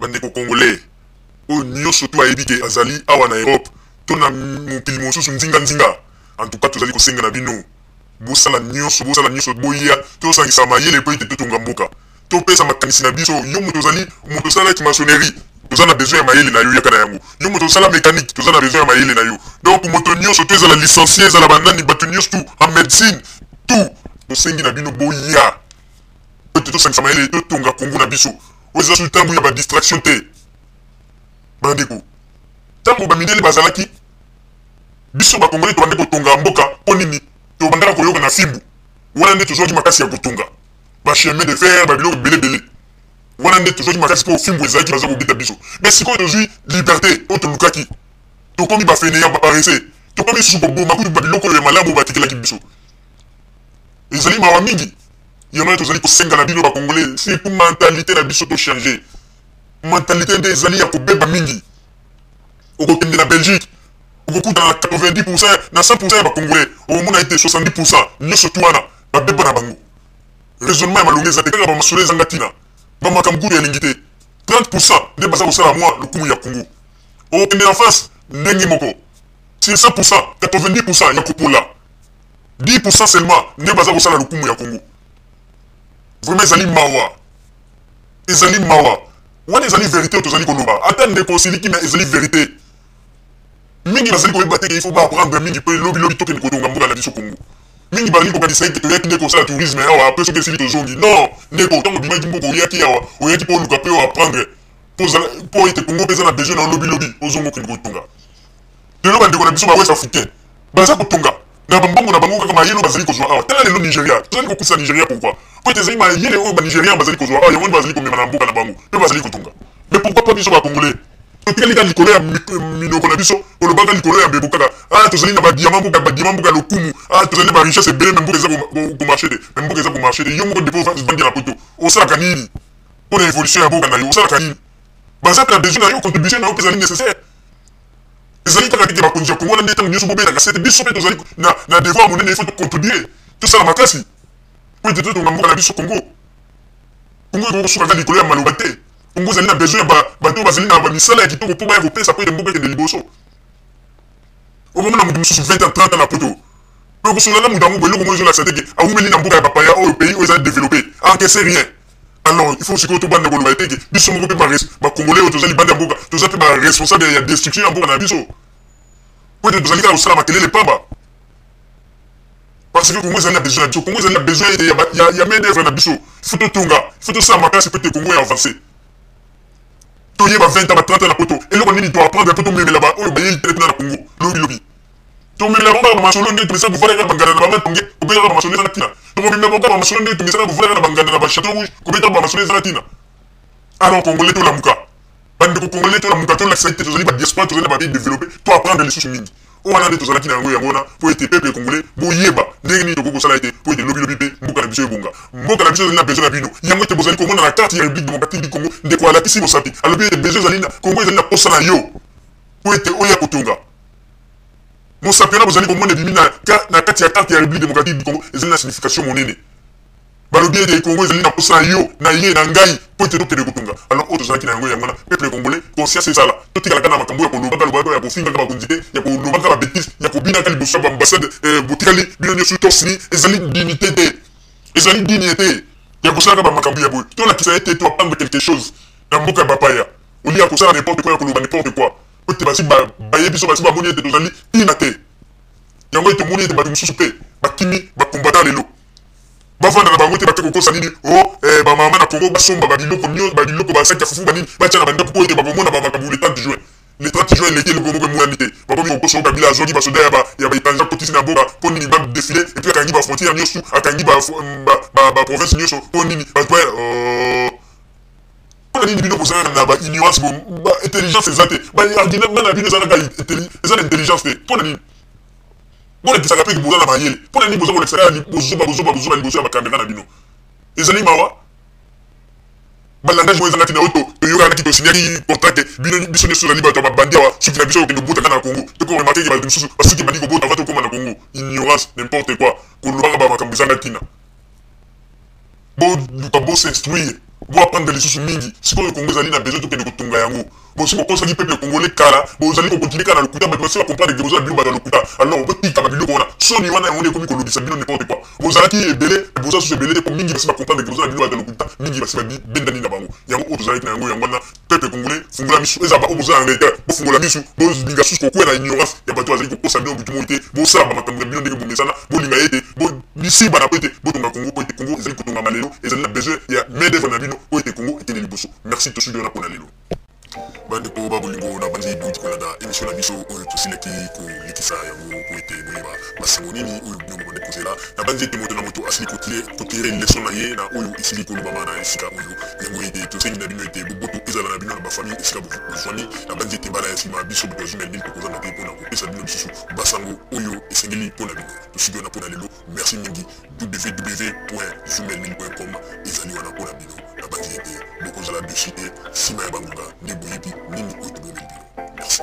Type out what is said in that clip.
bandeko congolais oyo nyonso tu ayebi ke azali awa na europe to na mokili mosusu nzinganzinga antuka tozali kosenga na bino bosala nyonso bosala nyonso boya tosangisa mayele mpo ete totonga mboka topesa makanisi na biso yo moto ozali moto osalaki masonerie toza na besoin ya mayele na yo yaka na yango yo moto osala mécanique toza na besoin ya mayele na yo donc moto nyonso to ezala licencie ezala banani bato nyonso tu en médecine tout tosengi na bino boya ete tosangisa mayele totonga kongo na biso oyo eza soki ntango ya badistraction te bandeko ntango bamindele bazalaki biso bakongoli tobandi kotonga mboka mpo nini tobandaka koyoka na fimbu wana nde tozwaki makasi ya kotonga bachemin de fer babiloko belebele wana nde tozwaki makasi mpo fimbu ezalaki baza kobeta biso me sikoyo tozwi liberté oyo tolukaki tokomi bafeneya baparese tokomi lisusu koboma kutu babiloko oyo ya malamu batikelaki biso ezali mawa mingi yango wana tozali kosenga na bino bacongolais surtout mentalite na biso tochange mentalite nde ezali ya kobeba mingi okokende na belgique okokutana na 90 pourcent na 100 pourcent ya bacongolais okomona ete 70 pourcent nyonso tu wana babeba na bango raisonnement ya malonga eza te kaka bamasolo ezanga ntina bamakambo kutu elingi te 30 pourcent nde baza kosala mwa lokumu ya kongo okokende na france ndenge moko sur 100 pourcent 90 pourcent ya kopola 10% seulement nde baza kosala lokumu ya congo vraiment ezali mawa ezali mawa wana ezali verité tozali koloba ata ndeko osiliki na ezali verité mingi bazali koyeba te ke ifo baaprendre mingi mpe lobilobi tokende kotonga mboka na biso congo mingi bazali kokanisa ete toyaki nde kosala tourisme awa mpe soki esili tozongi non ndeko ntango obimaki mboka oyaki awa oyaki mpo oluka mpe oaprendre mpo ete congo mpe eza na besoin na lobilobi ozonga okende kotonga lelo bandeko na biso ba west africain baza kotonga na bambongo na bango kaka mayele oyo bazali kozwa awa tala lelo nigeria tozali kokutisa nigeria pourkui po ete ezali mayele oyo banigerian bazali kozwa awa yango nde bazali komema na mboka na bango mpe bazali kotonga mais pourkui pa biso bacongolais totikali kaka likolo ya minoko na biso olobaka likolo ya mbebo kaka ah tozali na badiama mboka badiama mboka lokumu ah tozali na barichesse ebele me mboka eza komarche te me mboka eza komarche te yo moko depo ovandi na poto osalaka nini mpo na évolution ya mboka na yo osalaka nini baza mpe na besoin na yo contribution na yo mpe ezali nécessaire ezali kaka tete bakonzi ya kongo wana nde ntango nyonso bobelaka sete biso mpe tozali na devoir monene ifo tocontribue tosala makasi mpo ete totonga mboka na biso kongo kongo ekoki kosuka kaka likolo ya maloba te kongo ezali na besoin ya bato bazali na bamisala ya kitoko mpo baya kopesa mpo ete mboka ekende liboso okomona moto mosusu 20 ans 30 ans na poto okosolana moto yango boye eloko moko ezolakisa te ke awumeli na mboka ya bapaya oyo pays oyo ezali developpe encaisse rien alors il faut sikoyo tobanda koloba eteke biso moko mpe bacongolais oyo toza libanda ya mboka toza mpe baresponsable ya destruction ya mboka na biso po ete tozali kaka kosala makelele pamba parce que congo ezali na besoin na biso congo ezali na besoin ete ya main d'œuvre na biso il faut totonga il faut tosala makasi mpo ete congo ya avance toyeba 20 ans ba 30 ans na poto eloko nini toapprendre mpo tomemela baoyo bayei tele kuna na congo lobilobi Tomelaka kaka ba masolo nde tomesana kovanda kaka banganda na ba matonge kobetaka ba masolo eza na tina tokomemela kaka ba masolo nde tomesana kovanda kaka na banganda na ba chateau rouge kobetaka ba masolo eza na tina alors congolais tolamuka bandeko congolais tolamuka tolakisa ete tozali ba diaspora tozali na ba pays développé to apprendre lisusu mingi oyo wana nde tozalaki na yango yango wana mpo ete peuple congolais boyeba ndenge nini tokoki kosala ete mpo ete lobilobi mpe mboka na biso ebonga mboka na biso ezali na besoin na bino yango ete bozali komona na karte ya république démocratique du congo ndeko alakisi mosapi alobi ete besoin ezali na congo ezali na posa na yo mpo ete oya kotonga mosapi wana bozali komona ebimi na kati ya carte ya république démocratique du congo ezali na signification monene balobi ete congo ezali na posa na yo na ye na ngai mpo ete tokende kotonga alors oyo tozalaki na yango yango wana peuple congolais conscience ezala totikalaka na makambo ya kolobaka lobaka ya kofingaka bakonzi te ya kolobaka babetise ya kobinaka liboso ya baambassade eh, botikali bino nyonso tosini ezali dignité te ezali digne te ya kosalaka bamakambo ya boye tolakisa ete toapandre quelque chose na mboka ya bapaya olia kosala n'importe quoi ya koloba n'importe quoi ete basi baye biso basi bamoni ete tozali ntina te yango ete omoni ete bato mosusu mpe bakimi bakombata lelo bavanda na bango te bake kokosa nini o oh, eh, bamama na kongo basomba babiloko nio babiloko basaki ya fufu banini batya na bandako mpo ete bakomona bamakambo le 30 juin le 30 juin eleki eloko moko emonani te bakomi kokosa kabila azongi basoda ya baetranger akotisi na boka mpo nini badefile epuis akangi bafrontière nyonso akangi baprovince mm, nyonso mpo nini bato mpona nini bino bozalaka na ba ignorance ba intelligence eza te ba argument bana bino eza naka eza na intelligence te mpona nini bolakisaka mpe boza na mayele mpona nini boza kolakisa kaka bozoba bozoba bozoba liboso ya bakamera na bino ezali mawa balangage oyo ezanga ntina oyo toyokanaki tosinyaki contracte bino biso nyonso tozali bato ya babandi awa suki na biso okende kobota kaka na congo toko remake ke bato mosusu basuki ebandi kobota va tokóma na congo ignorance n'importe quoi kolobaka bamakambo ezanga ntina boluka bo s'instruire bo apprendre lisusu mingi sikoyo kongo ezali na besoin tokende kotonga yango bosi bokosaki peuple congolais kala bozali kokontinue kaka na lokuta bato basila comprendre ke boza bino bato ya lokuta alors botika babiloko wana soni wana yango nde ekomi kolobisa bino n'importe quoi bozalaki ebele boza susu ebele te po mingi basi bacomprendre ke boza na bino bato ya lokuta mingi basi babendani na bango yango oyo tozalaki na yango yango wana peuple congolais fungola misu eza baoyo boza na ndeke bofungola misu bolinga susu kokwea na ignorance ya bato bazali kokosa bino butu moi te bosala bamakambo ya bino ndenge bomesana bolinga ye te bisimbana po ete botonga kongo po ete kongo ezali kotongama lelo ezali na besoin ya main d'œuvre na bino po ete kongo ekende liboso merci tosudi wana mpona lelo bandeko ba bolingo na bandi bouti kolanda emission na biso oyo tosilaki kolekisa yango po ete boyeba masango nini oyo bino bobandi kozela na bandi ete moto na moto asili kotire leso na ye na oyo esili kolobama na esika oyo Yango ete tosengi na bino ete boboto ezala na bino na bafamille esika bozwami. Nabanzi ete mbala ya nsima biso moto azwi na lili tokozanga te mpo na kopesa bino lisusu basango oyo esengeli mpo na bino. Tosili wana mpo na lelo. Merci mingi. www.zumelin.com ezali wana mpo na bino. Nabanzi ete bokozala dosi te nsima ya bangonga nde boyebi nini oyo tobomeli bino. Merci.